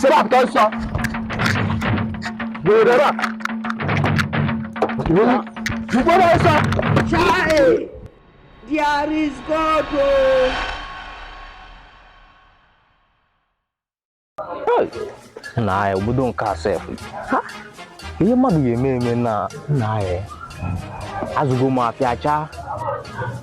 sebe apụta ọsọ gbere ra gbere ọsọ Chai! There is God! Oh. nna obodo nke a sef Ha? ihe mmadụ ga-eme eme nna eh azụgo m afịa chaa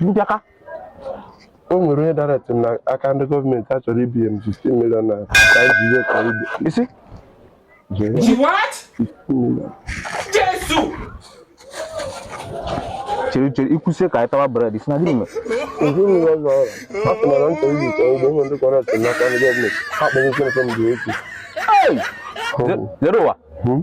Mbịaka o nwere onye dara eti m na aka ndị gọọmenti a chọrọ ibunye m 15 million naira ka anyị ji ihe ka ibe isi jee Ji what? 15 million Jesu! chere chere i kwusie ka anyị tawa bred ị sị na gịnị mere ezi mmiri ọzọ ọrụ a sị na na nchọ ibi chọọ ugbo ihe ndị kọrọ eti m n'aka ndị gọọmenti ha kpọrọ ụkwụ nke m dị echi Hey! Zero ụwa Hmm?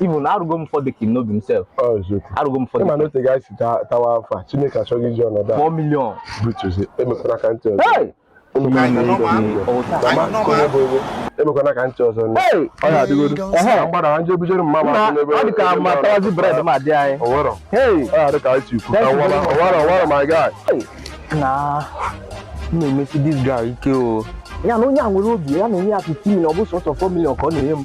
ibu na arụgo m ụfọdụ ka n'obi m sef arụgo m ụfọdụ ị ma na ote ga-esi tawa afọ a chineke achọghị iji ọnọdụ a 4 million butuzi emekwana ka ntị ọzọ emekwana ka ntị ọzọ ọ ya adịgodo mgbada ha nje bujere mma ma ọ dị ka ma tawazi bred ma dị anyị ọwara ọ ya dị ka anyị tikwu ọwara ọwara ọwara my guy na m na-emesi this guy ike o ya na onye a nwere obi ya na onye a 15 million ọ bụ sọsọ 4 million ka ọ na-enye m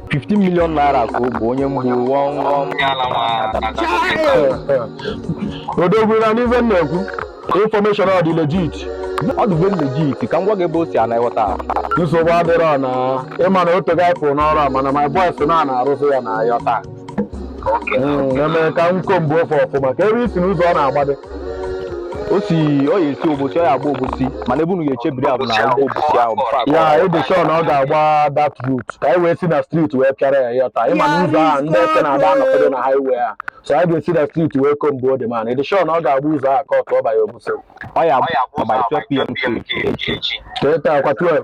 15 million naira ka o bunye m bụ wọm wọm odogwu na n'ife m na-ekwu information ọ dị legit ọ dị very legit ka m gwa gị ebe o si ị na-aghọta nsogbu adịrọ na ị ma na o tego anyị pụrụ n'ọrụ a mana my boys na a na-arụzi ya na ya taa eme ka m ko mgbe ofe ọfụma ka ebe isi n'ụzọ ọ na-agbado ọ sị ọ ya-esi obosi ọ ya-agba obosi mana ebe unu ga-echebiri a bụ na agba obosi ahụ before agba ya ị dị sure na ọ ga-agba that route ka anyị wee si na street wee pịara ya ya taa ị ma na ụzọ ahụ ndị eke na-ada anọkedo na highway a so anyị ga-esi na street wee ko mgbe ode mana ị dị sure na ọ ga-agba ụzọ ahụ ka ọ tụọ banye obosi ọ ya-agba 12 pm ka echi teta kwa 12